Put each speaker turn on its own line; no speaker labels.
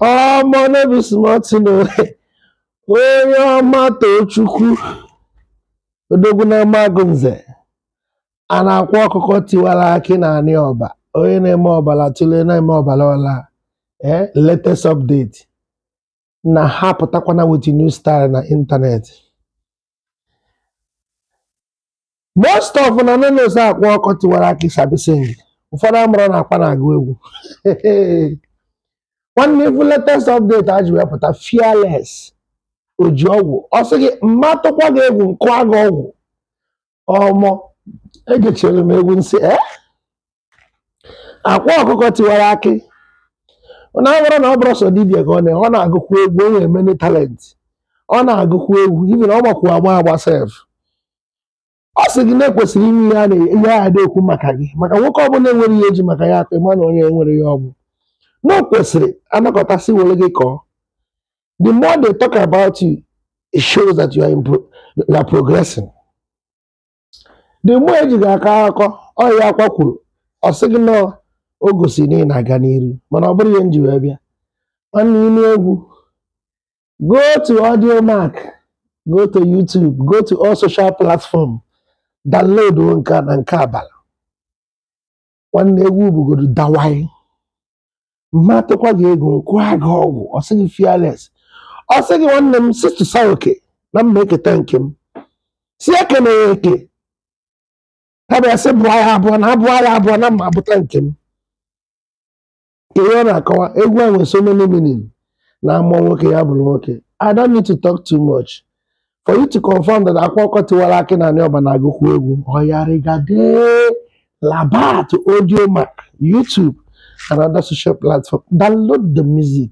ọmọ no be small thing o onye ọma tochukwu odogwu na amagunze and akwa ọkụkọ tiwara akị na anị ọba onye na-eme ọbara tụlee na-eme ọbara ọla ee latest update na ha apụtakwana with new style na internet most of una no know say akwa ọkụkọ tiwara akị sabi sing ụfọdụ amarọ na akwa na-agụ egwu nwanne ị fụ latest update a ji wee pụta fearless oji ọgwụ ọ sị gị m ma atụkwa gị egwu m kụa gị ọgwụ ọmọ egechere m egwu m sị ee akwa ọkụkọ tiwara akị na ọ bụrọ na ọ bụrọ sọ dibia ka ọ na ọ na-agụkwu egwu o nwere many talent ọ na-agụkwu egwu even ọ gbakwu agba agba sef ọ sị gị na e kwesịrị inwe ihe a na- ihe a dị ekwu maka gị maka nwoke ọbụla enwerọ ihe eji maka ya akpa ị ma na onye enwerọ ihe ọ bụ na o kwesịrị a nọkọtasị were gị kọọ the more they talk about you it shows that you are, impro- you are progressing the more eji gị akọ akọ ọ ya akwa kwuru ọ sị gị na o gosi na ị na-aga n'iru mana ọ bụrọ ihe m ji wee bịa nwanne ịnụ egwu go to audiomack go to youtube go to all social platform download nke a na nke abala nwanne egwu bụgodu dawai m ma atụkwa gị egwu m kụa gị ọgwụ ọ sị gị fearless ọ sị gị nwanne m sị tụsa oke na m ma eketa nke m sị ekene ya eke ha bịa sị bụọ ya abụọ na a bụọ ya abụọ na m ma abụta nke m ihe ọ na-akọwa egwu a nwere so many meaning na a mụọ nwoke ya bụrụ nwoke I don't need to talk too much for you to confirm that akwa ọkụkọ tiwara akị na anị ọba na-agụkwu egwu ọyarigade laba to audiomack YouTube and other social platform download the music